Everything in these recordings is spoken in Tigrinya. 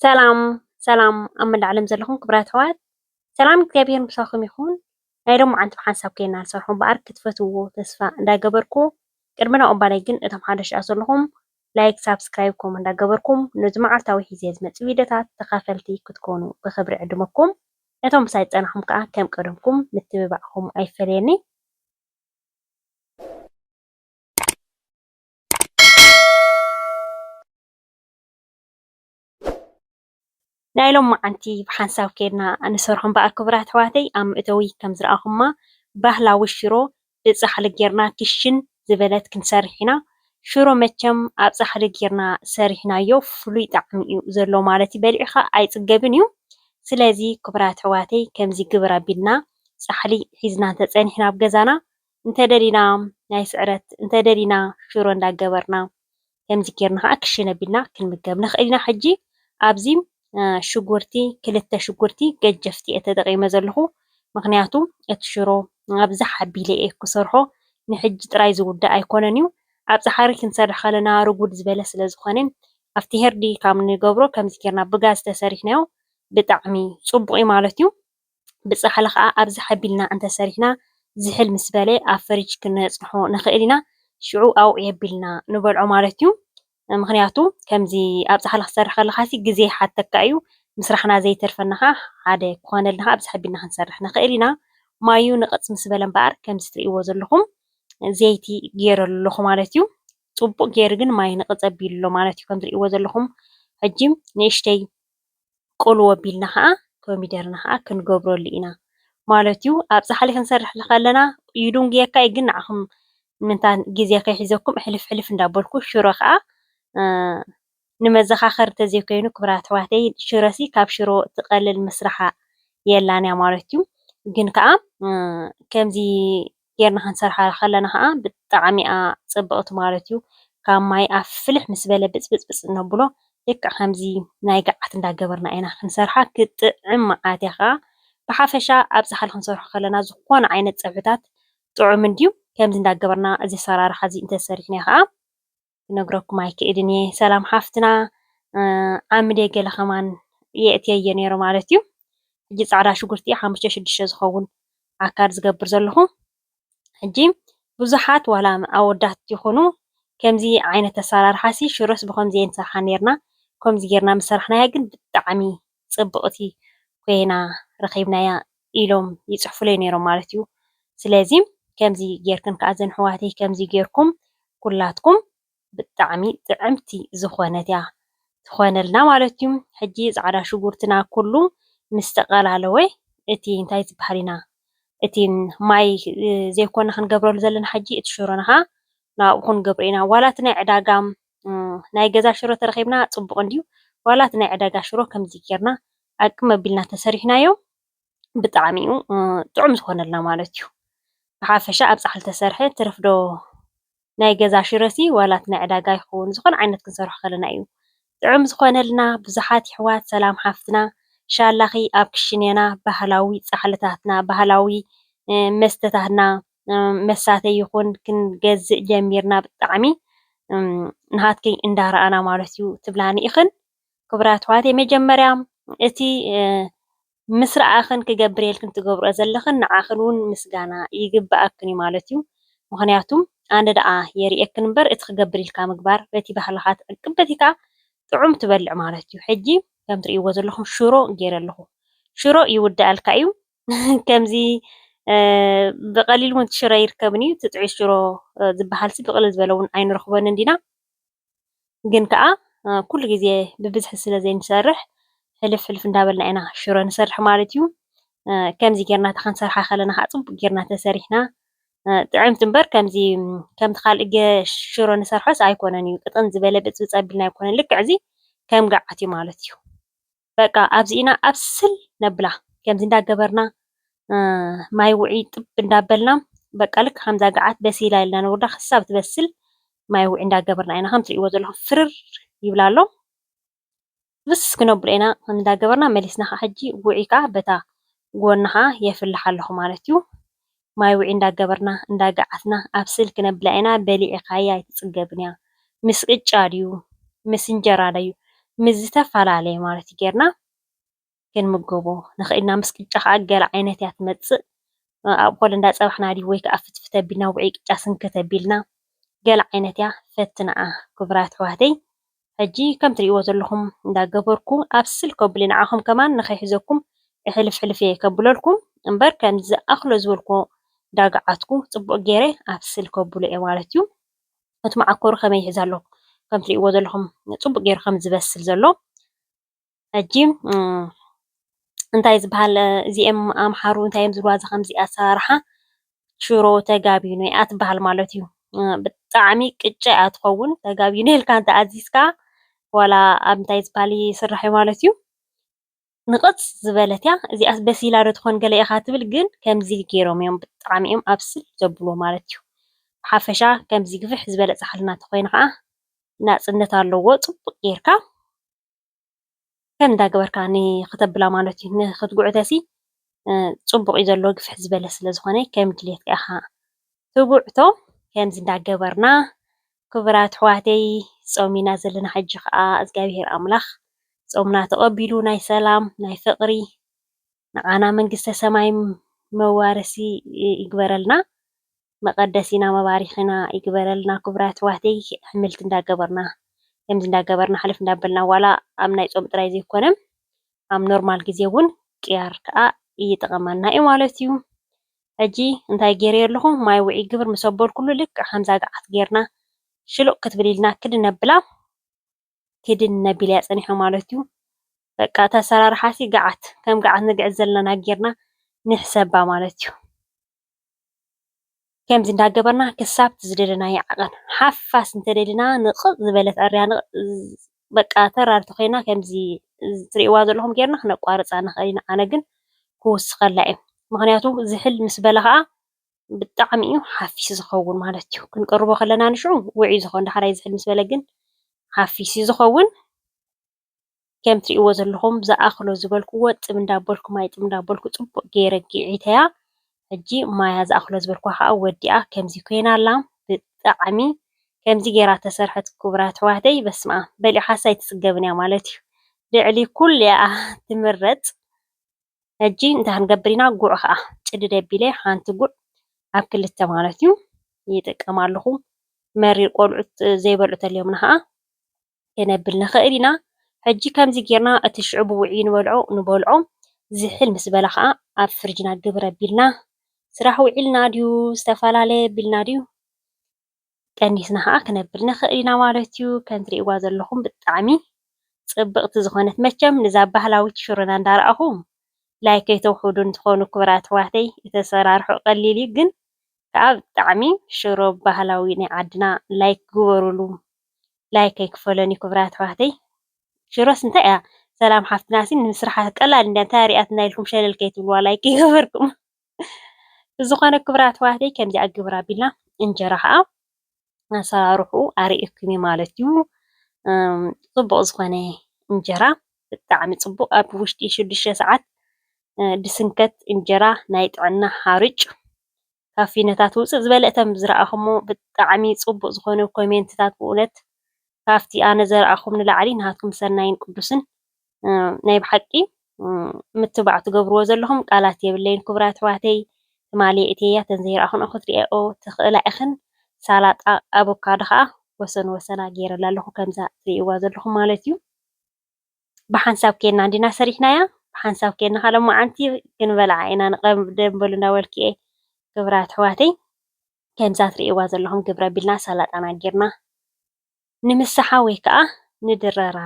ሰላም ሰላም ኣብ መላእ ዓለም ዘለኹም ክብራት ኣሕዋት ሰላም እግዚኣብሔር ምሳኹም ይኹን። ናይ ሎሚ መዓልቲ ብሓንሳብ ኮይና ንሰርሖ እምበኣር ክትፈትውዎ ተስፋ እንዳገበርኩ ቅድሚ ናኡ እምበኣለይ ግን እቶም ሓደሽቲ ዘለኹም ላይክ ሳብስክራይብ ኮም እንዳገበርኩም ነዚ መዓልታዊ ሒዘ ዝመጽእ ቪድዮታት ተካፈልቲ ክትኮኑ ብክብሪ ዕድመኩም ነቶም ምሳይ ዝጸናሕኩም ከኣ ከም ቀደምኩም ምትብባዕኩም ኣይፈለየኒ። ናይ ሎማዓንቲ ብሓንሳብ ከይድና ንሰርሖ እምበኣር ክቡራት ኣሕዋተይ ኣብ መእተዊ ከም ዝረኣኹማ ባህላዊ ሽሮ ብፃሕሊ ገይርና ክሽን ዝበለት ክንሰርሕ ኢና። ሽሮ መቸም ኣብ ፃሕሊ ገይርና ሰሪሕናዮ ፍሉይ ጣዕሚ እዩ ዘለዎ ማለት እዩ በሊዕኻ ኣይፅገብን እዩ። ስለዚ ክቡራት ኣሕዋተይ ከምዚ ግብር ኣቢልና ፃሕሊ ሒዝና እንተፀኒሕና ኣብ ገዛና እንተደሊና ናይ ስዕረት እንተደሊና ሽሮ እንዳገበርና ከምዚ ጌርና ከኣ ክሽን ኣቢልና ክንምገብ ንኽእል ኢና። ሕጂ ኣብዚ ሽጉርቲ ክልተ ሽጉርቲ ገጀፍቲ እየ ተጠቂመ ዘለኹ ምኽንያቱ እቲ ሽሮ ኣብዛሓ ኣቢለ እየ ክሰርሖ ንሕጂ ጥራይ ዝውዳእ ኣይኮነን እዩ ኣብ ጻሓሪ ክንሰርሕ ከለና ርጉድ ዝበለ ስለ ዝኾነ ኣብቲ ሄርዲ ካብ ንገብሮ ከምዚ ጌርና ብጋዝ ተሰሪሕናዮ ብጣዕሚ ጽቡቅ እዩ ማለት እዩ። ብፃሕሊ ከዓ ኣብዚ ሓቢልና እንተሰሪሕና ዝሕል ምስ በለ ኣብ ፍርጅ ክነፅንሖ ንክእል ኢና። ሽዑ ኣውዕዮ ኣቢልና ንበልዖ ማለት እዩ። ምክንያቱ ከምዚ ኣብ ፃሕሊ ክትሰርሕ ከለካ ግዜ ይሓተካ እዩ። ምስራሕና ዘይተርፈና ከዓ ሓደ ክኮነልና ከዓ ኣብዚ ሓቢልና ክንሰርሕ ንክእል ኢና። ማዩ ንቕፅ ምስ በለ እምበኣር ከምዚ እትሪእዎ ዘለኩም ዘይቲ ገይረሉ ኣለኩ ማለት እዩ። ፅቡቅ ገይሩ ግን ማይ ንቕፅ ኣቢሉ ኣሎ ማለት እዩ ከምዚ እትሪእዎ ዘለኩም። ሕጂ ንእሽተይ ቁልው ኣቢልና ከኣ ኮሚደረና ከኣ ክንገብረሉ ኢና ማለት እዩ። ኣብ ጻሕሊ ክንሰርሕ ከለና ይድንጉየካ እዩ ግን ንዓኹም ምእንታን ግዜ ከይሕዘኩም ሕልፍ ሕልፍ እንዳበልኩ ሽሮ ከኣ ንመዘኻኸሪ እንተዘይኮይኑ ክብራት ኣሕዋተይ ሽሮሲ ካብ ሽሮ ትቐልል ምስራሓ የላን እያ ማለት እዩ። ግን ከኣ ከምዚ ጌርና ክንሰርሓላ ከለና ከኣ ብጣዕሚ እያ ጽብቅቲ ማለት እዩ። ካብ ማይ ኣፍ ፍልሕ ምስ በለ ብጽብጽብጽ እነብሎ ልክዕ ከምዚ ናይ ገዓት እንዳገበርና ኢና ክንሰርሓ ክትጥዕም መኣት እያ ከኣ ብሓፈሻ ኣብ ጻሕሊ ክንሰርሖ ከለና ዝኾነ ዓይነት ጸብሕታት ጥዑም እንድዩ ከምዚ እንዳገበርና እዚ ኣሰራርሓ እዚ እንተሰሪሕና ከኣ ክነግረኩም ኣይክእልን እየ ሰላም ሓፍትና ዓምደ ገለ ከማን የእትየየ ነይሩ ማለት እዩ ሕጂ ፃዕዳ ሽጉርቲ ሓሙሽተ ሽዱሽተ ዝኸውን ኣካል ዝገብር ዘለኹ ሕጂ ብዙሓት ዋላ ኣወዳት ይኹኑ ከምዚ ዓይነት ኣሰራርሓ ሲ ሽሮስ ብከምዚ ንሰርሓ ነርና ከምዚ ጌርና ምሰራሕናያ ግን ብጣዕሚ ጽብቕቲ ኮይና ረኺብናያ ኢሎም ይጽሕፉለይ ኔሮም ማለት እዩ ስለዚ ከምዚ ጌርክን ከኣ ዘን ኣሕዋተይ ከምዚ ጌርኩም ኩላትኩም ብጣዕሚ ጥዕምቲ ዝኾነት እያ ትኾነልና ማለት እዩ ሕጂ ጻዕዳ ሽጉርትና ኩሉ ምስ ተቀላለወ እቲ እንታይ ዝብሃል ኢና እቲ ማይ ዘይኮና ክንገብረሉ ዘለና ሕጂ እቲ ሽሮና ከኣ ናብኡ ክንገብሮ ኢና ዋላ እቲ ናይ ዕዳጋ ናይ ገዛ ሽሮ ተረኺብና ጽቡቕ እንድዩ ዋላ እቲ ናይ ዕዳጋ ሽሮ ከምዚ ጌርና ኣቅም ኣቢልና ተሰሪሕናዮ ብጣዕሚ እዩ ጥዑም ዝኾነልና ማለት እዩ። ብሓፈሻ ኣብ ጻሕሊ ተሰርሐ ትርፍዶ ናይ ገዛ ሽሮሲ ዋላ እቲ ናይ ዕዳጋ ይኹን ዝኾነ ዓይነት ክንሰርሖ ከለና እዩ ጥዑም ዝኾነልና። ብዙሓት ይሕዋት ሰላም ሓፍትና ሻላኺ ኣብ ክሽኔና ባህላዊ ጻሕልታትና ባህላዊ መስተታትና መሳተዪ ይኹን ክንገዝእ ጀሚርና ብጣዕሚ ናሃትኪ እንዳረኣና ማለት እዩ ትብላኒ ኢኽን። ክቡራት ኣሕዋተይ መጀመርያ እቲ ምስ ረኣኽን ክገብርየልክን ትገብርኦ ዘለኽን ንዓኽን እውን ምስጋና ይግበኣክን እዩ ማለት እዩ። ምኽንያቱ ኣነ ደኣ የርእየክን እምበር እቲ ክገብርልካ ምግባር በቲ ባህልኻ ትዕቅብ በቲ ከዓ ጥዑም ትበልዕ ማለት እዩ። ሕጂ ከም ትርእይዎ ዘለኹም ሽሮ ገይረ ኣለኹ። ሽሮ ይውዳኣልካ እዩ። ከምዚ ብቐሊሉ እውን ሽሮ ኣይርከብን እዩ። እቲ ጥዑይ ሽሮ ዝበሃልሲ ብቕልል ዝበለ እውን ኣይንረኽቦን እንዲና። ግን ከኣ ኩሉ ግዜ ብብዝሒ ስለ ዘይንሰርሕ ሕልፍ ሕልፍ እንዳበልና ኢና ሽሮ ንሰርሕ ማለት እዩ። ከምዚ ጌርና እንተ ኽንሰርሓ ከለና ኸኣ ጽቡቕ ጌርና ተሰሪሕና ጥዕምቲ እምበር ከምዚ ከምቲ ካልእ ሽሮ ንሰርሖስ ኣይኮነን እዩ። ቅጥን ዝበለ ብጽብጽ ኣቢልና ኣይኮነን። ልክዕ እዚ ከም ገዓት እዩ ማለት እዩ። በቃ ኣብዚ ኢና ኣብስል ነብላ ከምዚ እንዳገበርና ማይ ውዒ ጥብ እንዳበልና በቃ ልክ ከምዛ ገዓት በሲላ ኢልና ነውርዳ ክሳብ ትበስል ማይ ውዒ እንዳገበርና ኢና ከም ትርእይዎ ዘለኹም ፍርር ይብላ ኣሎ ብስ ክነብሎ ኢና ከም እንዳገበርና መሊስና ከዓ ሕጂ ውዒ ከዓ በታ ጎና ከዓ የፍልሕ ኣለኹ ማለት እዩ ማይ ውዒ እንዳገበርና እንዳጋዓትና ኣብ ስል ክነብላ ኢና በሊዒካያ ኣይትጽገብንያ ምስ ቅጫ ድዩ ምስ እንጀራ ደዩ ምስ ዝተፋላለየ ማለት ገርና ክንምገቦ ንክእል ኢና ምስ ቅጫ ከኣ ገለ ዓይነት እያ ትመጽእ ኣብ ኮለ እንዳጸባሕና ድዩ ወይ ከኣ ፍትፍት ኣቢልና ውዒ ቅጫ ስንክት ኣቢልና ገለ ዓይነት እያ ፈትናኣ ኩቡራት ኣሕዋተይ ሕጂ ከም ትሪእዎ ዘለኹም እንዳ ገበርኩ ኣብ ስልክ ኣቡሊ ንዓኹም ከማን ንኸይሕዘኩም ሕልፍ ሕልፍ እየ ከብለልኩም እምበር ከምዚ ዝኣኽሎ ዝበልክዎ ዳግዓትኩ ጽቡቕ ጌረ ኣብ ስልክ ኣቡሎ እየ ማለት እዩ እቲ መዓኮሩ ከመይ ይሕዝ ኣሎ ከም ትሪእዎ ዘለኹም ጽቡቕ ጌሩ ከም ዝበስል ዘሎ ሕጂ እንታይ ዝበሃል እዚኤም ኣምሓሩ እንታይ እዮም ዝብልዋ ከምዚ ኣሰራርሓ ሽሮ ተጋቢኖ እያ ትበሃል ማለት እዩ። ብጣዕሚ ቅጫ እያ ትኸውን ተጋቢኖ ኢልካ እንተኣዚዝካ ዋላ ኣብ እንታይ ዝበሃል ይስራሕ እዩ ማለት እዩ። ንቕፅ ዝበለት እያ እዚኣስ በሲላ ዶ ትኾን ገለ ኢኻ ትብል ግን ከምዚ ገይሮም እዮም ብጣዕሚ እዮም ኣብስል ዘብልዎ ማለት እዩ። ብሓፈሻ ከምዚ ግፍሕ ዝበለ ፃሕሊ እናተኾይኑ ከዓ ናፅነት ኣለዎ ፅቡቕ ጌርካ ከም እንዳገበርካ ንኽተብላ ማለት እዩ። ንኽትጉዕተሲ ፅቡቕ እዩ ዘሎ ግፍሕ ዝበለ ስለዝኾነ ከም ድሌትካ ኢኻ ትጉዕቶ። ከምዚ እንዳገበርና ክቡራት ኣሕዋተይ ፆም ኢና ዘለና ሕጂ ከዓ እግዚኣብሄር ኣምላኽ ፆምና ተቐቢሉ ናይ ሰላም ናይ ፍቕሪ ንዓና መንግስተ ሰማይ መዋርሲ ይግበረልና መቀደሲና መባሪኪና ይግበረልና ኩቡራት ኣሕዋተይ ኣሕምልቲ እንዳገበርና ከምዚ እንዳገበርና ሕልፍ እንዳበልና ዋላ ኣብ ናይ ጾም ጥራይ ዘይኮነ ኣብ ኖርማል ግዜ ውን ቅያር ከኣ ይጥቐመና እዩ ማለት እዩ ሕጂ እንታይ ጌረዮ ኣለኹ ማይ ውዕይ ግብር ምስ ኣበልኩሉ ልክዕ ከምዛ ገዓት ጌርና ሽሉቕ ክትብል ኢልና ክድን ነብላ ኪድን ነቢልያ ጸኒሖም ማለትዩ በቃ እቲ ኣሰራርሓሲ ገዓት ከም ገዓት ንግዕት ዘለና ጌርና ንሕሰባ ማለትዩ ከምዚ እንዳገበርና ክሳብ ዝደለናዮ ዓቐን ሓፋስ እንተደሊና ንቕጥ ዝበለት ዕርያ ንቕጥ በቃ ተራርቲ ኮይና ከምዚ ትርእይዋ ዘለኹም ጌርና ክነቋርጻ ንኽእል ኢና ኣነ ግን ክውስኸላ እየ ምኽንያቱ ዝሕል ምስ በለ ኸኣ ብጣዕሚ እዩ ሓፊስ ዝኸውን ማለት እዩ። ክንቅርቦ ከለና ንሽዑ ውዑይ ዝኸውን ዳሕራይ ዝሕል ምስ በለ ግን ሓፊስ እዩ ዝኸውን። ከም እትሪእዎ ዘለኹም ዝኣኽሎ ዝበልክዎ ጥብ እንዳበልኩ ማይ ጥብ እንዳበልኩ ፅቡቕ ገይረ ጊዒተያ። ሕጂ ማያ ዝኣኽሎ ዝበልክዋ ከዓ ወዲኣ ከምዚ ኮይና ኣላ። ብጣዕሚ ከምዚ ገይራ ተሰርሐት ክቡራት ኣሕዋተይ በስመኣም በሊዓኻስ ኣይትፅገብን እያ ማለት እዩ። ልዕሊ ኩሉ እያ ትምረፅ። ሕጂ እንታይ ክንገብር ኢና ጉዕ ከኣ ጭድድ ኣቢለ ሓንቲ ጉዕ ኣብ ክልተ ማለት እዩ ይጥቀም ኣለኹ። መሪር ቆልዑት ዘይበልዑ ተልዮምና ከኣ ከነብል ንኽእል ኢና። ሕጂ ከምዚ ጌርና እቲ ሽዑ ብውዒ ንበልዖ ንበልዖ ዝሕል ምስ በለ ከኣ ኣብ ፍርጅና ግብር ኣቢልና ስራሕ ውዒልና ድዩ ዝተፈላለየ ኣቢልና ድዩ ቀኒስና ከኣ ክነብል ንክእል ኢና ማለት እዩ። ከም ትርእይዋ ዘለኹም ብጣዕሚ ጽብቅቲ ዝኾነት መቸም ንዛ ባህላዊት ሽሮና እንዳ ረኣኹም ላይክ ከይተውሕዱኒ ትኾኑ ክቡራት ኣሕዋተይ እቲ ኣሰራርሕኡ ቀሊል እዩ ግን ከኣ ብጣዕሚ ሽሮ ባህላዊ ናይ ዓድና ላይክ ግበሩሉ ላይክ ኣይክፈሎን እዩ ክቡራት ኣሕዋተይ ሽሮስ እንታይ እያ ሰላም ሓፍትናሲ ንምስርሓ ቀላል እንድያ እንታይ እያ ሪኣትና ኢልኩም ሸለል ከይትብልዋ ላይክ ከይገበርኩም። ብዝኾነ ክብራት ኣሕዋተይ ከምዚኣ ግብር ኣቢልና እንጀራ ኸኣ ኣሰራርሕኡ ኣርእየኩም እየ ማለት እዩ። ጽቡቕ ዝኾነ እንጀራ ብጣዕሚ ጽቡቕ ኣብ ውሽጢ ሽዱሽተ ሰዓት ዝስንከት እንጀራ ናይ ጥዕና ሓርጭ ካብ ፊኖታት ውጽእ ዝበለ እቶም ዝረኣኹሞ ብጣዕሚ ጽቡቕ ዝኾነ ኮሜንትታት ብእውነት ካብቲ ኣነ ዝረኣኹም ንላዕሊ ናትኩም ሰናይን ቅዱስን ናይ ብሓቂ ምትብባዕ ትገብርዎ ዘለኹም ቃላት የብለይን ክቡራት ኣሕዋተይ ትማሊ የእትየያ ተዘይረኣኹንኦ ክትሪኣኦ ትኽእላ ኢኽን ሳላጣ ኣቮካዶ ከዓ ወሰን ወሰና ገይረላ ኣለኹ ከምዛ ትሪእዋ ዘለኹም ማለት እዩ ብሓንሳብ ኬና እንዲና ሰሪሕናያ ብሓንሳብ ኬና ካለ መዓንቲ ክንበልዓ ኢና ንቐብ ደንበሉ እንዳበልኩ እየ ክቡራት ኣሕዋተይ ከምዛ ትሪእዋ ዘለኹም ግብረ ቢልና ሳላጣና ጌርና ንምሳሓ ወይ ከኣ ንድረራ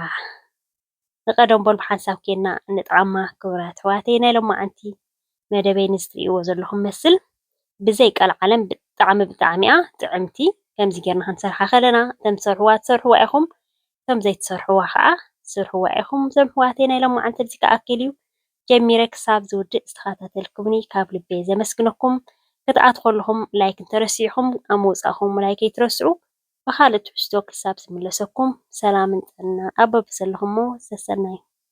ንቀደም በሉ ብሓንሳብ ኬንና ንጠዓማ ክቡራት ኣሕዋተይ ናይ ሎማዓንቲ መደበይ ነዚ ትርእይዎ ዘለኹም መስል ብዘይ ቀልዓለም ብጣዕሚ ብጣዕሚ እያ ጥዕምቲ ከምዚ ጌርና ክንሰርሓ ከለና እቶም ትሰርሕዋ ትሰርሕዋ ኢኹም እቶም ዘይትሰርሕዋ ከኣ ስርሕዋ ኢኹም እዞም ኣሕዋተይ ናይ ሎማዓንቲ ኣብዚ ክኣክል እዩ ጀሚረ ክሳብ ዝውድእ ዝተኸታተልኩምኒ ካብ ልበይ ዘመስግነኩም ክትኣትኹ ኣለኹም ላይክ እንተረሲዕኹም ኣብ ምውጻእኹም ላይክ ኣይትረስዑ ብኻልእ ትሕዝቶ ክሳብ ዝምለሰኩም ሰላምን ጥዕናን ኣብ በብዘለኹሞ ሰሰናዩ።